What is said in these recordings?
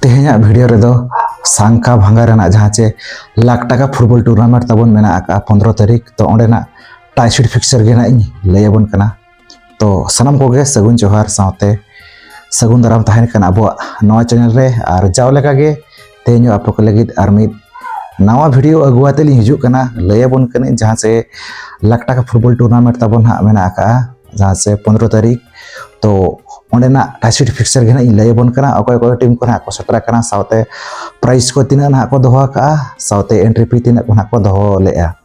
ᱛᱮᱦᱮᱧᱟᱜ ᱵᱷᱤᱰᱤᱭᱳ ᱨᱮᱫᱚ ᱥᱟᱝᱠᱟ ᱵᱷᱟᱝᱜᱟ ᱨᱮᱱᱟᱜ ᱡᱟᱦᱟᱸ ᱪᱮ ᱞᱟᱠᱷ ᱴᱟᱠᱟ ᱯᱷᱩᱴᱵᱚᱞ ᱴᱩᱨᱱᱟᱢᱮᱱᱴ ᱛᱟᱵᱚᱱ ᱢᱮᱱᱟᱜ ᱟᱠᱟᱫᱼᱟ ᱯᱚᱱᱨᱚ ᱛᱟᱹᱨᱤᱠᱷ ᱛᱚ ᱚᱸᱰᱮᱱᱟᱜ ᱴᱟᱭᱥᱤᱰ ᱯᱷᱤᱠᱥᱪᱟᱨ ᱜᱮ ᱱᱟᱜ ᱤᱧ ᱞᱟᱹᱭ ᱟᱵᱚᱱ ᱠᱟᱱᱟ ᱛᱚ ᱥᱟᱱᱟᱢ ᱠᱚᱜᱮ ᱥᱟᱹᱜᱩᱱ ᱡᱚᱦᱟᱨ ᱥᱟᱶᱛᱮ ᱥᱟᱹᱜᱩᱱ ᱫᱟᱨᱟᱢ ᱛᱟᱦᱮᱱ ᱠᱟᱱᱟ ᱟᱵᱚᱣᱟᱜ ᱱᱚᱣᱟ ᱪᱮᱱᱮᱞ ᱨᱮ ᱟᱨ ᱡᱟᱣ ᱞᱮᱠᱟᱜᱮ ᱛᱮᱦᱮᱧ ᱟᱯᱮ ᱠᱚ ᱞᱟᱹᱜᱤᱫ ᱟᱨ ᱢᱤᱫ ᱱᱟᱣᱟ ᱵᱷᱤᱰᱤᱭᱳ ᱟᱹᱜᱩ ᱟᱛᱮ ᱞᱤᱧ ᱦᱤᱡᱩᱜ ᱠᱟᱱᱟ ᱞᱟᱹᱭ ᱟᱵᱚᱱ ᱠᱟᱹᱱᱟᱹᱧ ᱡᱟᱦᱟᱸ ᱥᱮ ᱞᱟᱠᱷ ᱴᱟᱠᱟ ᱯᱷᱩᱴᱵᱚᱞ ᱴᱩᱨᱱᱟᱢᱮᱱᱴ ᱛᱟᱵᱚᱱ ᱦᱟᱸᱜ ᱢᱮᱱᱟᱜ ᱟᱠᱟᱜᱼᱟ ᱡᱟᱦᱟᱸ ᱥᱮ ᱯᱚᱱᱨᱚ ᱛᱟᱹᱨᱤᱠᱷ ᱛᱚ ᱚᱸᱰᱮᱱᱟᱜ ᱴᱟᱪᱤᱴ ᱯᱷᱤᱠᱥᱟᱨ ᱜᱮ ᱦᱟᱸᱜ ᱤᱧ ᱞᱟᱹᱭ ᱟᱵᱚᱱ ᱠᱟᱱᱟ ᱚᱠᱚᱭ ᱚᱠᱚᱭ ᱴᱤᱢ ᱠᱚ ᱦᱟᱸᱜ ᱠᱚ ᱥᱮᱴᱮᱨ ᱟᱠᱟᱱᱟ ᱥᱟᱶᱛᱮ ᱯᱨᱟᱭᱤᱡᱽ ᱠᱚ ᱛᱤᱱᱟᱹᱜ ᱦᱟᱸᱜ ᱠᱚ ᱫᱚᱦᱚ ᱟᱠᱟᱜᱼᱟ ᱥᱟᱶᱛᱮ ᱮᱱᱴᱨᱤ ᱯᱷᱤ ᱛᱤᱱᱟᱹᱜ ᱠᱚ ᱦᱟᱸᱜ ᱠᱚ ᱫᱚᱦᱚ ᱞᱮᱜᱼᱟ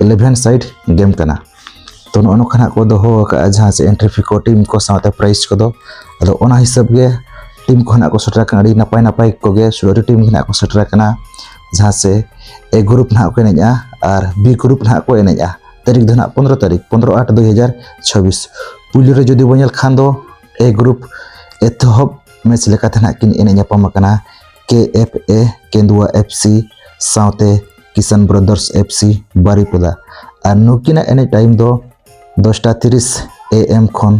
ᱤᱞᱮᱵᱷᱮᱱ ᱥᱟᱭᱤᱰ ᱜᱮᱢ ᱠᱟᱱᱟ ᱛᱚ ᱱᱚᱜᱼᱚ ᱱᱚᱝᱠᱟ ᱱᱟᱜ ᱠᱚ ᱫᱚᱦᱚ ᱟᱠᱟᱫᱼᱟ ᱡᱟᱦᱟᱸ ᱥᱮ ᱮᱱᱴᱨᱤ ᱯᱷᱤ ᱠᱚ ᱴᱤᱢ ᱠᱚ ᱥᱟᱶᱛᱮ ᱯᱨᱟᱭᱤᱡᱽ ᱠᱚᱫᱚ ᱟᱫᱚ ᱚᱱᱟ ᱦᱤᱥᱟᱹᱵ ᱜᱮ ᱴᱤᱢ ᱠᱚ ᱱᱟᱜ ᱠᱚ ᱥᱮᱴᱮᱨ ᱟᱠᱟᱱᱟ ᱟᱹᱰᱤ ᱱᱟᱯᱟᱭ ᱱᱟᱯᱟᱭ ᱠᱚᱜᱮ ᱥᱩᱨᱟᱹᱨᱤ ᱴᱤᱢ ᱜᱮ ᱱᱟᱜ ᱠᱚ ᱥᱮᱴᱮᱨ ᱟᱠᱟᱱᱟ ᱡᱟᱦᱟᱸ ᱥᱮ ᱮ ᱜᱨᱩᱯ ᱱᱟᱜ ᱠᱚ ᱮᱱᱮᱡᱼᱟ ᱟᱨ ᱵᱤ ᱜᱨᱩᱯ ᱱᱟᱜ ᱠᱚ ᱮᱱᱮᱡᱼᱟ ᱛᱟᱹᱨᱤᱠᱷ ᱫᱚ ᱱᱟᱜ ᱯᱚᱱᱨᱚ ᱛᱟᱹᱨᱤᱠᱷ ᱯᱚᱱᱨᱚ ᱟᱴ ᱫᱩᱭ ᱦᱟᱡᱟᱨ ᱪᱷᱟᱵᱤᱥ ᱯᱩᱭᱞᱩ ᱨᱮ ᱡᱩᱫᱤ ᱵᱚᱱ ᱧᱮᱞ ᱠᱷᱟᱱ ᱫᱚ ᱮ ᱜᱨᱩᱯ ᱮᱛᱚᱦᱚᱵ ᱢᱮᱪ ᱞᱮᱠᱟᱛᱮ ᱱᱟᱜ ᱠᱤᱱ ᱮᱱᱮᱡ ᱧᱟᱯᱟᱢ ᱟᱠᱟᱱᱟ ᱠᱮ ᱮᱯᱷ ᱮ ᱠᱮᱱᱫᱩᱣᱟ ᱮᱯᱷ ᱥᱤ ᱥᱟᱶᱛᱮ ᱠᱤᱥᱟᱱ ᱵᱨᱚᱫᱟᱨᱥ ᱮᱯᱷ ᱥᱤ ᱵᱟᱨᱤᱯᱚᱫᱟ ᱟᱨ ᱱᱩᱠᱤᱱᱟᱜ ᱮᱱᱮᱡ ᱴᱟᱭᱤᱢ ᱫᱚ ᱫᱚᱥᱴᱟ ᱛᱤᱨᱤᱥ ᱮ ᱮᱢ ᱠᱷᱚᱱ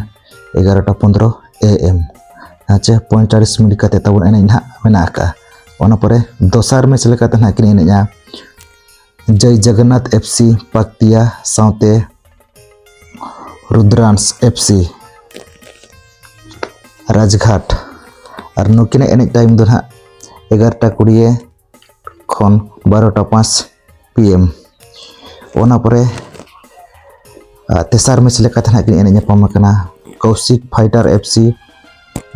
ᱮᱜᱟᱨᱚᱴᱟ ᱯᱚᱱᱫᱨᱚ ᱮ ᱮᱢ ᱟᱪᱪᱷᱟ ᱯᱚᱸᱭᱛᱟᱞᱤᱥ ᱢᱤᱱᱤᱴ ᱠᱟᱛᱮ ᱛᱟᱵᱚᱱ ᱮᱱᱮᱡ ᱱᱟᱦᱟᱜ ᱢᱮᱱᱟᱜ ᱟᱠᱟᱫᱼᱟ ᱚᱱᱟ ᱯᱚᱨᱮ ᱫᱚᱥᱟᱨ ᱢᱮᱪ ᱞᱮᱠᱟᱛᱮ ᱱᱟᱦᱟᱜ ᱠᱤᱱ ᱮᱱᱮᱡᱼᱟ ᱡᱚᱭ ᱡᱚᱜᱚᱱᱱᱟᱛᱷ ᱮᱯᱷ ᱥᱤ ᱯᱟᱠᱛᱤᱭᱟ ᱥᱟᱶᱛᱮ ᱨᱩᱫᱽᱨᱟᱱᱥ ᱮᱯᱷ ᱥᱤ ᱨᱟᱡᱽᱜᱷᱟᱴ ᱟᱨ ᱱᱩᱠᱤᱱᱟᱜ ᱮᱱᱮᱡ ᱴᱟᱭᱤᱢ ᱫᱚ ᱱᱟᱦᱟᱜ ᱮᱜᱟᱨᱚᱴᱟ ᱠᱩᱲᱤᱭᱮ ᱠᱷᱚᱱ ᱵᱟᱨᱚᱴᱟ ᱯᱟᱸᱪ ᱯᱤ ᱮᱢ ᱚᱱᱟ ᱯᱚᱨᱮ ᱛᱮᱥᱟᱨ ᱢᱮᱪ ᱞᱮᱠᱟᱛᱮ ᱱᱟᱦᱟᱜ ᱠᱤᱱ ᱮᱱᱮᱡ ᱧᱟᱯᱟᱢ ᱟᱠᱟᱱᱟ ᱠᱚᱣᱥᱤᱠ ᱯᱷᱟᱭᱴᱟᱨ ᱮᱯᱷ ᱥᱤ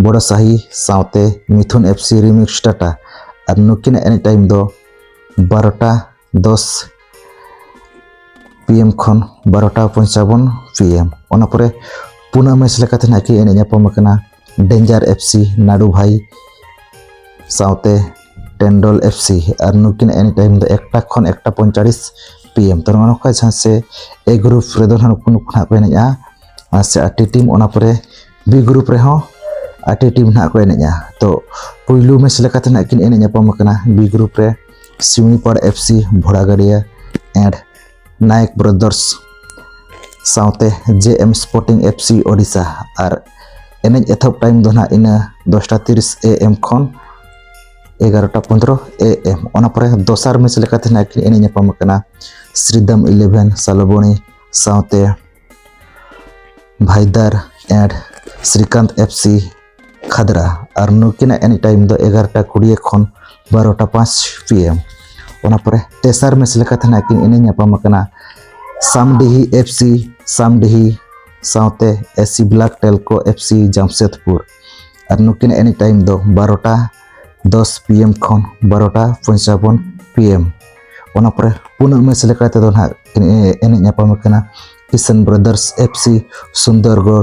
ᱵᱚᱲᱚ ᱥᱟᱦᱤ ᱥᱟᱶᱛᱮ ᱢᱤᱛᱷᱩᱱ ᱮᱯᱷ ᱥᱤ ᱨᱤᱢᱤᱠᱥ ᱴᱟᱴᱟ ᱟᱨ ᱱᱩᱠᱤᱱᱟᱜ ᱮᱱᱮᱡ ᱴᱟᱭᱤᱢ ᱫᱚ ᱵᱟᱨᱚᱴᱟ ᱫᱚᱥ ᱯᱤ ᱮᱢ ᱠᱷᱚᱱ ᱵᱟᱨᱚᱴᱟ ᱯᱚᱧᱪᱟᱵᱚᱱ ᱯᱤ ᱮᱢ ᱚᱱᱟ ᱯᱚᱨᱮ ᱯᱩᱱᱟᱹ ᱢᱮᱪ ᱞᱮᱠᱟᱛᱮ ᱱᱟᱦᱟᱜ ᱠᱤᱱ ᱮᱱᱮᱡ ᱧᱟᱯᱟᱢ ᱟᱠᱟᱱᱟ ᱰᱮᱧᱡᱟᱨ ᱮᱯᱷ ᱥᱤ ᱱᱟᱰᱩ ᱵᱷᱟᱭ ᱥᱟᱶᱛᱮ ᱴᱮᱱᱰᱚᱞ ᱮᱯᱷ ᱥᱤ ᱟᱨ ᱱᱩᱠᱤᱱ ᱮᱱᱤ ᱴᱟᱭᱤᱢ ᱫᱚ ᱮᱠᱴᱟ ᱠᱷᱚᱱ ᱮᱠᱴᱟ ᱯᱚᱸᱭᱛᱟᱞᱤᱥ ᱯᱤ ᱮᱢ ᱛᱚ ᱱᱚᱜᱼᱚ ᱱᱚᱝᱠᱟ ᱡᱟᱦᱟᱸ ᱥᱮ ᱮ ᱜᱨᱩᱯ ᱨᱮᱫᱚ ᱱᱟᱦᱟᱜ ᱱᱩᱠᱩ ᱱᱩᱠᱩ ᱱᱟᱦᱟᱜ ᱠᱚ ᱮᱱᱮᱡᱼᱟ ᱟᱨ ᱥᱮ ᱟᱴᱴᱤ ᱴᱤᱢ ᱚᱱᱟ ᱯᱚᱨᱮ ᱵᱤ ᱜᱨᱩᱯ ᱨᱮᱦᱚᱸ ᱟᱴᱴᱤ ᱴᱤᱢ ᱱᱟᱦᱟᱜ ᱠᱚ ᱮᱱᱮᱡᱼᱟ ᱛᱚ ᱯᱩᱭᱞᱩ ᱢᱮᱪ ᱞᱮᱠᱟᱛᱮ ᱱᱟᱦᱟᱜ ᱠᱤᱱ ᱮᱱᱮᱡ ᱧᱟᱯᱟᱢ ᱟᱠᱟᱱᱟ ᱵᱤ ᱜᱨᱩᱯ ᱨᱮ ᱥᱤᱢᱤᱯᱟᱲ F C ᱵᱷᱚᱲᱟᱜᱟᱹᱲᱤᱭᱟᱹ and Nayak brothers ᱥᱟᱶᱛᱮ J M sporting F C Odisha ᱟᱨ ᱮᱱᱮᱡ ᱮᱛᱚᱦᱚᱵ ᱴᱟᱭᱤᱢ ᱫᱚ ᱱᱟᱦᱟᱜ ᱤᱱᱟᱹ ᱫᱚᱥᱴᱟ ᱛᱤᱨᱤᱥ ᱮ ᱮᱢ ᱠᱷᱚᱱ ᱮᱜᱟᱨᱚᱴᱟ ᱯᱚᱱᱫᱨᱚ ᱮ ᱮᱢ ᱚᱱᱟ ᱯᱚᱨᱮ ᱫᱚᱥᱟᱨ ᱢᱮᱪ ᱞᱮᱠᱟᱛᱮ ᱱᱟᱦᱟᱜ ᱠᱤᱱ ᱮᱱᱮᱡ ᱧᱟᱯᱟᱢ ᱟᱠᱟᱱᱟ ᱥᱨᱤᱫᱟᱢ ᱤᱞᱮᱵᱷᱮᱱ ᱥᱟᱞᱚᱵᱚᱱᱤ ᱥᱟᱶᱛᱮ ᱵᱷᱟᱭᱫᱟᱨ and Srikant F C Khadra ᱟᱨ ᱱᱩᱠᱤᱱᱟᱜ ᱮᱱᱮᱡ ᱴᱟᱭᱤᱢ ᱫᱚ ᱮᱜᱟᱨᱚᱴᱟ ᱠᱩᱲᱤᱭᱟᱹ ᱠᱷᱚᱱ ᱵᱟᱨᱚᱴᱟ ᱯᱟᱸᱪ ᱯᱤ ᱮᱢ ᱚᱱᱟ ᱯᱚᱨᱮ ᱛᱮᱥᱟᱨ ᱢᱮᱪ ᱞᱮᱠᱟᱛᱮ ᱱᱟᱜ ᱠᱤᱱ ᱮᱱᱮᱡ ᱧᱟᱯᱟᱢ ᱟᱠᱟᱱᱟ ᱥᱟᱢᱰᱤᱦᱤ ᱮᱯᱷ ᱥᱤ ᱥᱟᱢᱰᱤᱦᱤ ᱥᱟᱶᱛᱮ S C black Telco F C Jamshedpur ᱟᱨ ᱱᱩᱠᱤᱱᱟᱜ ᱮᱱᱮᱡ ᱴᱟᱭᱤᱢ ᱫᱚ ᱵᱟᱨᱚᱴᱟ ᱫᱚᱥ ᱯᱤ ᱮᱢ ᱠᱷᱚᱱ ᱵᱟᱨᱚᱴᱟ ᱯᱚᱧᱪᱟᱵᱚᱱ ᱯᱤ ᱮᱢ ᱚᱱᱟ ᱯᱚᱨᱮ ᱯᱩᱱᱟᱜ ᱢᱮᱪ ᱞᱮᱠᱟ ᱛᱮᱫᱚ ᱱᱟᱜ ᱠᱤᱱ ᱮᱱᱮᱡ ᱧᱟᱯᱟᱢ ᱟᱠᱟᱱᱟ Kisan brothers F C Sundargarh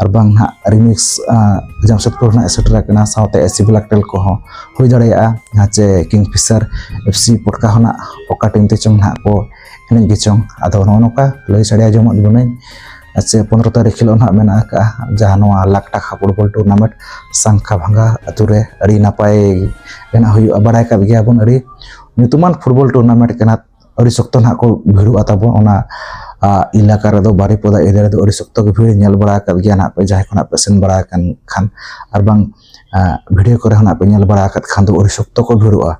ᱟᱨ ᱵᱟᱝ ᱱᱟᱦᱟᱜ ᱨᱤᱢᱤᱠᱥ ᱡᱟᱢᱥᱮᱫᱽᱯᱩᱨ ᱨᱮᱱᱟᱜ ᱥᱮᱴᱮᱨ ᱟᱠᱟᱱᱟ ᱥᱟᱶᱛᱮ ᱮᱥᱤ ᱵᱞᱟᱠ ᱴᱮᱞ ᱠᱚᱦᱚᱸ ᱦᱩᱭ ᱫᱟᱲᱮᱭᱟᱜᱼᱟ ᱡᱟᱦᱟᱸ ᱪᱮ ᱠᱤᱝ ᱯᱷᱤᱥᱟᱨ ᱮᱯᱷ ᱥᱤ ᱯᱚᱴᱠᱟ ᱦᱚᱸ ᱱᱟᱜ ᱚᱠᱟ ᱴᱤᱢ ᱛᱮ ᱪᱚᱝ ᱱᱟᱦᱟᱜ ᱠᱚ ᱮᱱᱮᱡ ᱜᱮ ᱪᱚᱝ ᱟᱫᱚ ᱱᱚᱜᱼᱚ ᱱᱚᱝᱠᱟ ᱞᱟᱹᱭ ᱥᱟᱰᱮ ᱟᱸᱡᱚᱢᱟᱜ ᱵᱚᱱᱟᱹᱧ ᱥᱮ ᱯᱚᱱᱨᱚ ᱛᱟᱹᱨᱤᱠᱷ ᱦᱤᱞᱳᱜ ᱱᱟᱦᱟᱜ ᱢᱮᱱᱟᱜ ᱟᱠᱟᱫᱼᱟ ᱡᱟᱦᱟᱸ ᱱᱚᱣᱟ ᱞᱟᱠ ᱴᱟᱠᱟ ᱯᱷᱩᱴᱵᱚᱞ ᱴᱩᱨᱱᱟᱢᱮᱱᱴ ᱥᱟᱝᱠᱷᱟ ᱵᱷᱟᱝᱜᱟ ᱟᱛᱳ ᱨᱮ ᱟᱹᱰᱤ ᱱᱟᱯᱟᱭ ᱨᱮᱱᱟᱜ ᱦᱩᱭᱩᱜᱼᱟ ᱵᱟᱲᱟᱭ ᱠᱟᱜ ᱜᱮᱭᱟᱵᱚᱱ ᱟᱹᱰᱤ ᱧᱩᱛᱩᱢᱟᱱ ᱯᱷᱩᱴᱵᱚᱞ ᱴᱩᱨᱱᱟᱢᱮᱱᱴ ᱠᱟᱱᱟ ᱟᱹᱰᱤ ᱥᱚᱠᱛᱚ ᱱᱟᱦᱟᱜ ᱠᱚ ᱵᱷᱤᱲᱚᱜᱼᱟ ᱛᱟᱵᱚᱱ ᱚᱱᱟ ᱮᱞᱟᱠᱟ ᱨᱮᱫᱚ ᱵᱟᱨᱤᱯᱚᱫᱟ ᱮᱨᱤᱭᱟ ᱨᱮᱫᱚ ᱟᱹᱰᱤ ᱥᱚᱠᱛᱚ ᱜᱮ ᱵᱷᱤᱲ ᱧᱮᱞ ᱵᱟᱲᱟ ᱟᱠᱟᱫ ᱜᱮᱭᱟ ᱱᱟᱦᱟᱜ ᱯᱮ ᱡᱟᱦᱟᱸᱭ ᱠᱷᱚᱱᱟᱜ ᱯᱮ ᱥᱮᱱ ᱵᱟᱲᱟ ᱟᱠᱟᱱ ᱠᱷᱟᱱ ᱟᱨ ᱵᱟᱝ ᱵᱷᱤᱰᱤᱭᱳ ᱠᱚᱨᱮ ᱦᱚᱸ ᱱᱟᱦᱟᱜ ᱯᱮ ᱧᱮᱞ ᱵᱟᱲᱟ ᱟᱠᱟᱫ ᱠᱷᱟᱱ ᱫᱚ ᱟᱹᱰᱤ ᱥᱚᱠᱛᱚ ᱠᱚ ᱵᱷᱤᱲᱚᱜᱼᱟ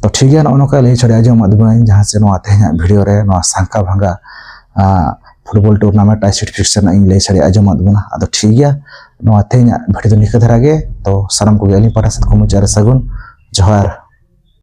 ᱛᱚ ᱴᱷᱤᱠ ᱜᱮᱭᱟ ᱱᱚᱜᱼᱚ ᱱᱚᱝᱠᱟ ᱞᱟᱹᱭ ᱪᱷᱟᱲᱟ ᱟᱸᱡᱚᱢᱟᱫ ᱵᱚᱱᱟᱹᱧ ᱡᱟᱦᱟᱸ ᱥᱮ ᱱᱚᱣᱟ ᱛᱮᱦᱮᱧᱟᱜ ᱵᱷᱤᱰᱤᱭᱳ ᱨᱮ ᱱᱚᱣᱟ ᱥᱟᱝᱠᱟ ᱵᱷᱟᱝᱜᱟ ᱯᱷᱩᱴᱵᱚᱞ ᱴᱩᱨᱱᱟᱢᱮᱱᱴ ᱟᱭ ᱥᱟᱨᱴᱤᱯᱷᱤᱠᱮᱥᱚᱱ ᱤᱧ ᱞᱟᱹᱭ ᱪᱷᱟᱲᱟ ᱟᱸᱡᱚᱢᱟᱫ ᱵᱚᱱᱟ ᱟᱫᱚ ᱴᱷᱤᱠ ᱜᱮᱭᱟ ᱱᱚᱣᱟ ᱛᱮᱦᱮᱧᱟᱜ ᱵᱷᱤᱰᱤᱭᱳ ᱫᱚ ᱱᱤᱝᱠᱟᱹ ᱫᱷᱟᱨᱟ ᱜᱮ ᱛᱚ ᱥᱟᱱᱟᱢ ᱠᱚᱜᱮ ᱟᱹᱞᱤᱧ ᱯᱟᱦᱴᱟ ᱥᱮᱫ ᱠᱷᱚᱱ ᱢᱩᱪᱟᱹᱫ ᱨᱮ ᱥᱟᱹᱜᱩᱱ ᱡᱚᱦᱟᱨ